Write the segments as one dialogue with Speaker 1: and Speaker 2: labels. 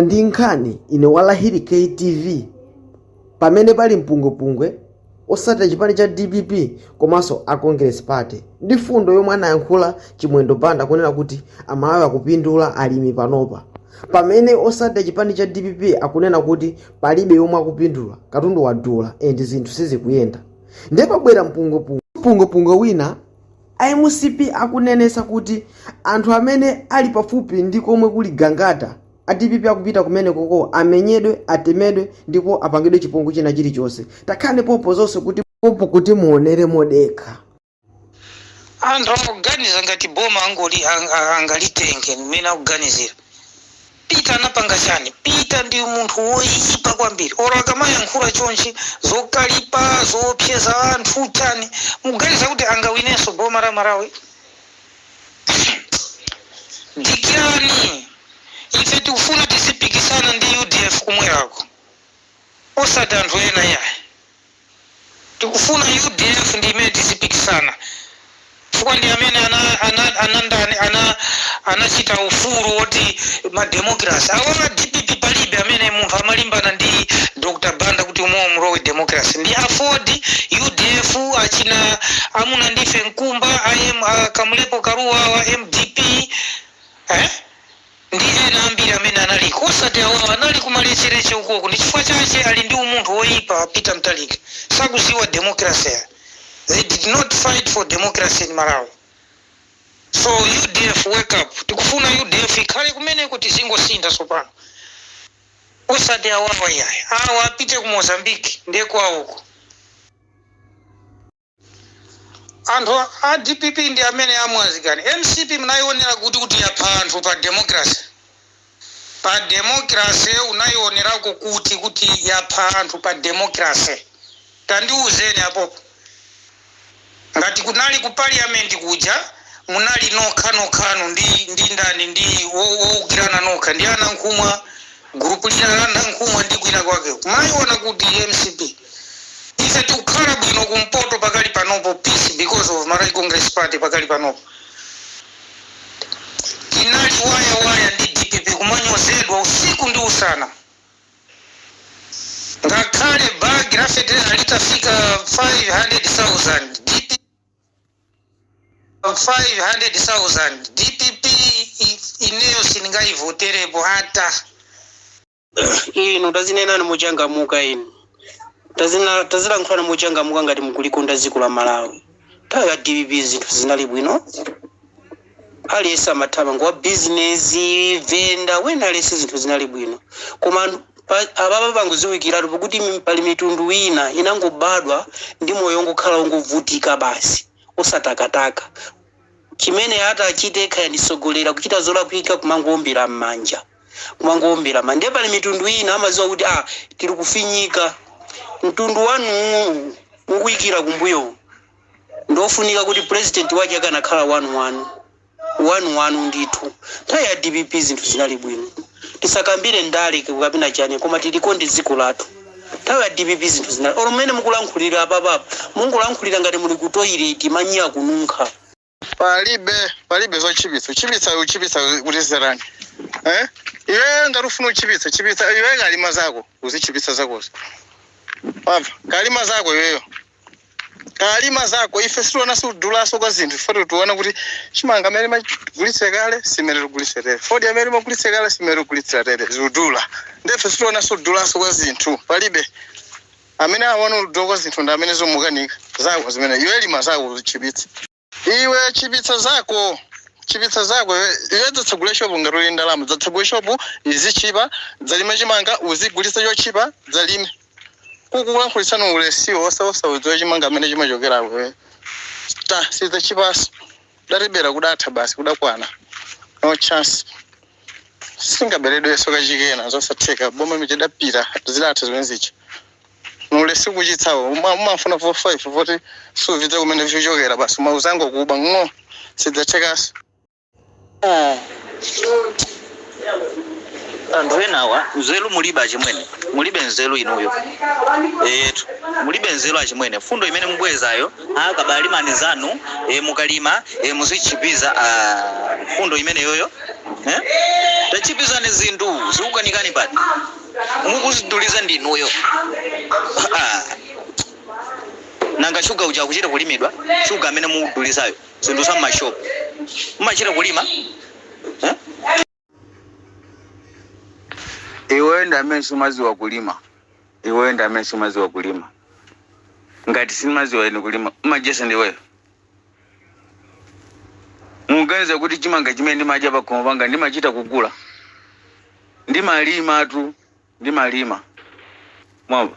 Speaker 1: ndi nkhani ine wa lahiri ktv pamene pali mpungwepungwe osatira chipani cha dpp komanso a congress party ndi fundo yomwe anayankhula chimwendo banda kunena kuti amalawi akupindula alimi panopa pamene osatira chipani cha dpp akunena kuti palibe yomwe akupindula katundu wadula and zinthu sizikuyenda ndiye pabwera mpungwepungwe mpungwepungwe wina A mcp akunenesa kuti anthu amene ali pafupi ndi komwe kuli Gangata a dpp akupita kumenekoko amenyedwe, atemedwe ndipo apangidwe chipongwe china chilichonse. Takhalani pompo zonse kuti pompo kuti muonere
Speaker 2: modekha. Anthu akuganiza ngati boma angalitenge mmene akuganizira. Peter anapanga chani? Peter ndi munthu woyipa kwambiri or akamayankhura chonchi zokalipa zoopseza anthu chani mukuganiza kuti angawinenso boma la Malawi? Dikirani ife tikufuna tizipikisana ndi udf kumwerako osati anthu ena iyayi. Tikufuna udf ndi imene tizipikisana chifukwa ndi amene ana ana anandani ana anachita ufulu woti ma democracy awo a dpp palibe amene munthu amalimbana ndi Dr Banda kuti umowo mulowe democracy ndi aford udf achina amunandife mkumba am a kamlepo kalua wa mdp eh ndi ena ambiri amene analiko osati awawa anali kumalecheleche ukoko ndi chifukwa chache ali ndi umunthu woipa a peter mutharika sakuziwa democracy ayi they did not fight for democracy in malawi so udf wake up tikufuna udf ikhale kumeneko tizingosintha tsopano osati awawa iyayi awa apite ku mozambique nde kwawoko. Anthu a dpp ndi amene amwazikani. Mcp munayionera kuti kuti yapha anthu pa democracy? Pa democracy unaionerako kuti kuti yapha anthu pa democracy? Tandiuzeni apopo. Ngati kunali ku parliament kuja munali nokha nokhanu ndi ndi ndani ndi woukirana nokha ndi a Nankhumwa. Gulupu lina la Nankhumwa ndi kwina kwake mumaiona kuti mcp. Ife tikukhala bwino ku mpoto pakali panopo peace because of Malawi Congress Party pakali panopo. Tinali waya waya ndi dpp kumanyozedwa usiku ndi usana. Ngakhale bag la feteleza litafika 500,000 dpp. 500,000 dpp ineyo sindingayivoterepo ata. Inu tazinenani mochangamuka inu tazina tazilankhulani mochangamuka ngati mukulikonda dziko la Malawi. Nthawi ya dpp zinthu zinali bwino. Aliyense amathamanga wa business, venda, wina aliyense zinthu zinali bwino koma anthu pa, apapa pangoziwikiratu pakuti mi- pali mitundu ina inangobadwa ndi moyo wongokhala wongovutika basi osatakataka chimene ati achite kaya mtsogoleri akuchita zolakwika kumangoombera mmanja kumangoombera ma ndiye pali mitundu ina amaziwa kuti ah tiri kufinyika mtundu wanuwu mukuikira kumbuyowu ndiofunika kuti president wake akanakhala wanu wanu wanu wanu ndithu nthawi ya dpp zinthu zinali bwino tisakambire ndale kapena chani koma tilikonde dziko lathu nthawi ya dpp zinthu zinali olo mmene mukulankhulira apapapa mungolankhulira ngati muli ku toilet manyi akununkha
Speaker 3: palibe palibe zochipitsa uchipitsa uchipitsa kuti zerani eh iwe ngati ufuna uchipitsa chipitsa iwe kalima zako uzichipitsa zakozo wamva kalima zako iweyo kalima zako ife sitiona sikudulaso kwa zinthu ifoti tiona kuti chimanga mmene timagulitsa kale si mmene tigulitsa tere fodya mmene timagulitsa kale si mmene tigulitsa tere zikudula nde ife sitiona sikudulaso kwa zinthu palibe Amene awona kudula kwa zinthu ndi amene zomukanika zako zimene iwe lima zako tchipitsa. Iwe tchipitsa zako tchipitsa zako iwe iwe dzatsegule shopu ngati uli ndalama dzatsegule shopu izitchipa dzalime chimanga uzigulitsa chotchipa dzalime ukukulankhulitsani ulesiwo osa osadziwa chimanga kumene chimachokera kwe ta sidzatchipaso. kudatebera kudatha basi kudakwana no chance singaberedwenso kachikena zosatheka boma imene ija idapita zidatha zimene zija ulesi ukuchitsawo umafuna 45 voti suvidziwa kumene vichokera basi mauzango kuba ng'o sidzathekanso Ah,
Speaker 4: anthu enawa nzeru mulibe achimwene mulibe nzeru inuyo eyetu mulibe nzeru achimwene mfundo imene mubwezayo akabalimani zanu e, mukalima e, muzitchipiza ah, mfundo imeneyoyo eh? tatchipizani zinthu zikukanikani pati mukuziduliza ndinuyo Ah, nanga shuga uja akuchita kulimidwa shuga amene mukudulizayo zinthu za mmashopu mmachita kulima
Speaker 5: iweyo ndi amene sumadziwa kulima iweyo ndi amene sumadziwa kulima ngati sindimadziwa ine kulima umayesa ndiweyo muganiza kuti chimanga chimene ndimadya pakhomo panga ndimachita kugula ndimalimatu ndimalima mwamva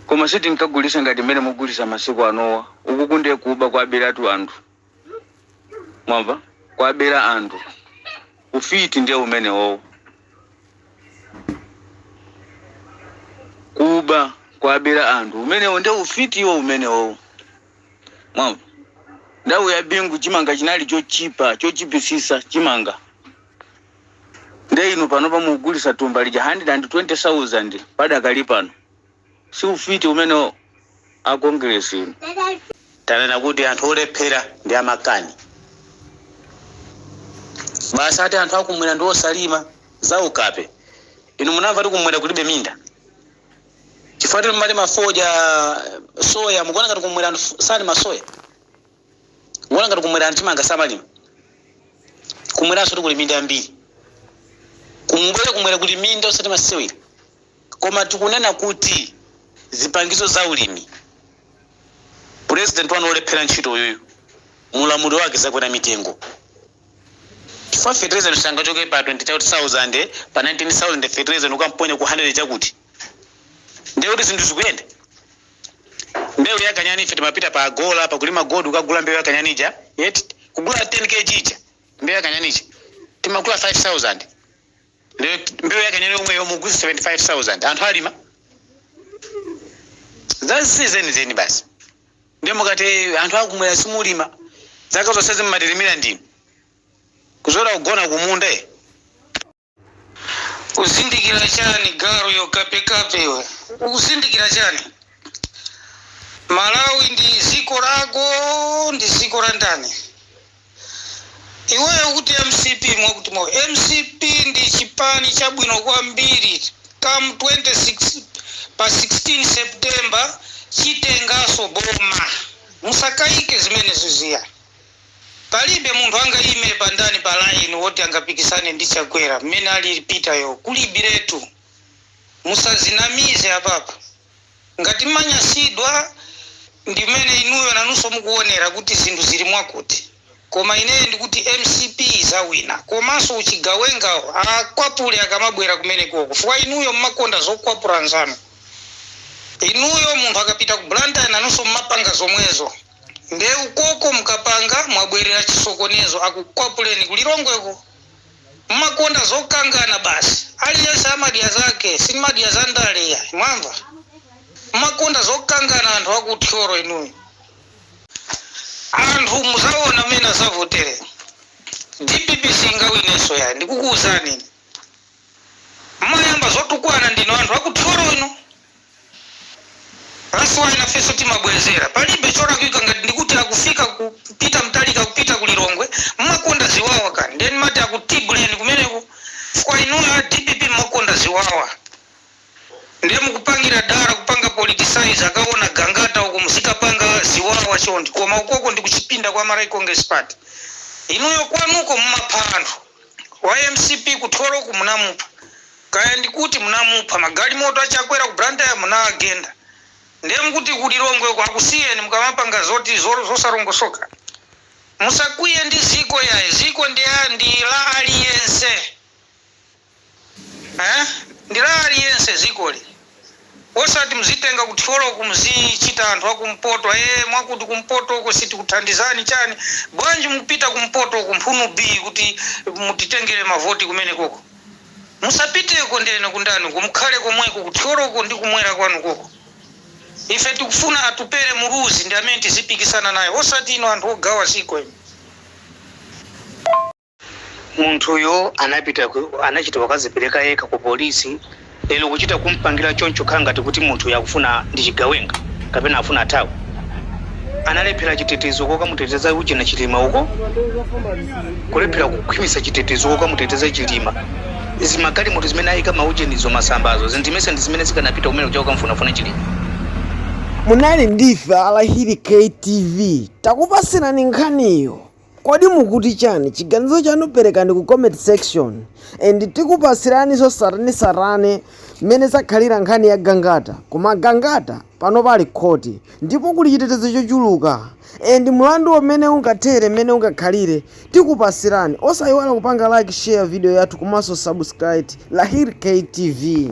Speaker 5: koma sitinkagulisa ngati mmene mugulisa masiku anowa ukuku ndiye kuba kwabelatu anthu mwamva kwabela anthu ufiti ndiye umenewowo kuba kwabela anthu umenewo ndiye ufiti iwo umenewowo mwamva nthawi ya bingu chimanga chinali chotchipa chotchipisisa chimanga Nde inu panopa mukugulisa thumba lija 120,000 padakali pano si ufiti umenewo a Congress inu.
Speaker 2: Tanena kuti anthu olephera ndi amakani basi ati anthu akumwera ndi osalima? Zaukape. Inu munamva kuti kumwera kulibe minda? Chifukwa choti mumalima fodya, soya mukuona ngati kumwera anthu salima soya? Mukuona ngati kumwera anthu chimanga samalima? Kumweranso kuli minda yambiri. Mubwere kumwera kuli minda osati masewera. Koma tikunena kuti zipangizo za ulimi president wanu olephera ntchito uyuyu mu ulamuliro wake zakwera mitengo chifukwa fertilizer sangachoke pa 20000 pa 19000 fertilizer ukamponya ku 100 chakuti ndiye kuti zinthu zikuyenda mbewu ya kanyani ife timapita pa agora pakulima gold ukagula mbewu ya kanyani ija yet kugula 10 kg ija mbewu ya kanyani ija timagula 5000 lero mbewu ya kanyani yomwe yomwe ugule 75000 anthu alima zazi zenizeni basi ndiye mukati "Eh, anthu akumwera simulima zaka zonse mumatilimira ndinu kuzola kugona kumunda eh. Ukuzindikira chani garu iwe kapekape iwe ukuzindikira chani Malawi ndi ziko lako ndi ziko la ndani iweyo kuti mcp mwakuti mwa mcp ndi chipani chabwino kwambiri come 26 pa 16 September chitengaso boma musakaike zimenezo ziya. Palibe munthu angayime pa ndani pa line woti angapikisane ndi chakwera mmene alili peter yo kulibiretu musazinamize apapa ngati mmanyasidwa ndimene inuyo nanuso mukuwonera kuti zinthu zili mwakuti koma ineyo ndikuti mcp izawina komaso uchigawengawo akwapule akamabwera kumenekoko fukwa inuyo mmakonda zokwapula anzanu inuyo munthu akapita ku blantyre nanuso mmapanga zomwezo Nde ukoko mkapanga mwabwerera chisokonezo akukwapuleni ku Lilongweko. Mumakonda zokangana basi. Aliyense amadya zake sindimadya za ndale iyayi mwamva. Mumakonda zokangana anthu aku Thyolo inuyo. Anthu muzawona mmene azavotere. Dpp siyingawinenso yayi ndikukuwuzani ine. Mmayamba zotukwana ndinu anthu a ku Thyolo inu. That's why nafeso timabwezera. Palibe cholakwika ngati ndikuti akufika kupita Mutharika kupita ku Lilongwe mmakonda ziwawa kani ndiye ndimati akutibuleni kumeneko chifukwa inuyo a DPP mmakonda ziwawa. Ndiye mukupangira dala kupanga politicize akawona Gangata uko muzikapanga ziwawa choncho koma ukoko ndi kuchipinda kwa Malawi Congress Party inuyo kwanuko mumapha munthu wa MCP ku Thyoloko munamupha kaya ndikuti munamupha magalimoto a Chakwera ku Blantyre munawagenda ndiye mukuti ku Lilongwe uko akusiyeni mukamapanga zoti zosalongosoka musakwiye ndi dziko yayi dziko ndi la aliyense. Eeh ndi la aliyense dzikoli osati mzitenga ku Thyoloko mzichita anthu akumpoto ee mwakuti kumpotoko sitikuthandizani chani bwanji mupita kumpotoko mphunu bii kuti mutitengele mavoti kumenekoko musapiteko ndenu ku Ndata uko mukhale komweko ku Thyoloko ndi kumwera kwanu koko ife tikufuna Atupele Muluzi ndi amene tizipikisana naye osati inu anthu ogawa dziko inu. Munthuyo anapita, anachita kukadzipereka yekha ku polisi, lero kuchita kumpangira choncho khala ngati kuti munthuyo akufuna ndi chigawenga kapena afuna athawe. Analephera chitetezo kokamuteteza ujeni Chilima uko. Kulephera kukhwimitsa chitetezo kokamuteteza Chilima. Zimagalimoto zimene ayika maujenizo masambazi zi ndimesa ndi zimene zikanapita kumene kuja kukamfunafuna Chilima.
Speaker 1: Munali ndife a Lahiri K TV takupatsirani nkhaniyo. Kodi mukuti chani? Chiganizo chanu perekani ku comment section and tikupatsiraninso tsatanetsatane mmene zakhalira nkhani ya Gangata koma Gangata panopa ali ku khoti ndipo kuli chitetezo chochuluka and mlanduwo mmene ungathere mmene ungakhalire tikupatsirani osayiwala kupanga like share video yathu komanso subscribe Lahiri K TV.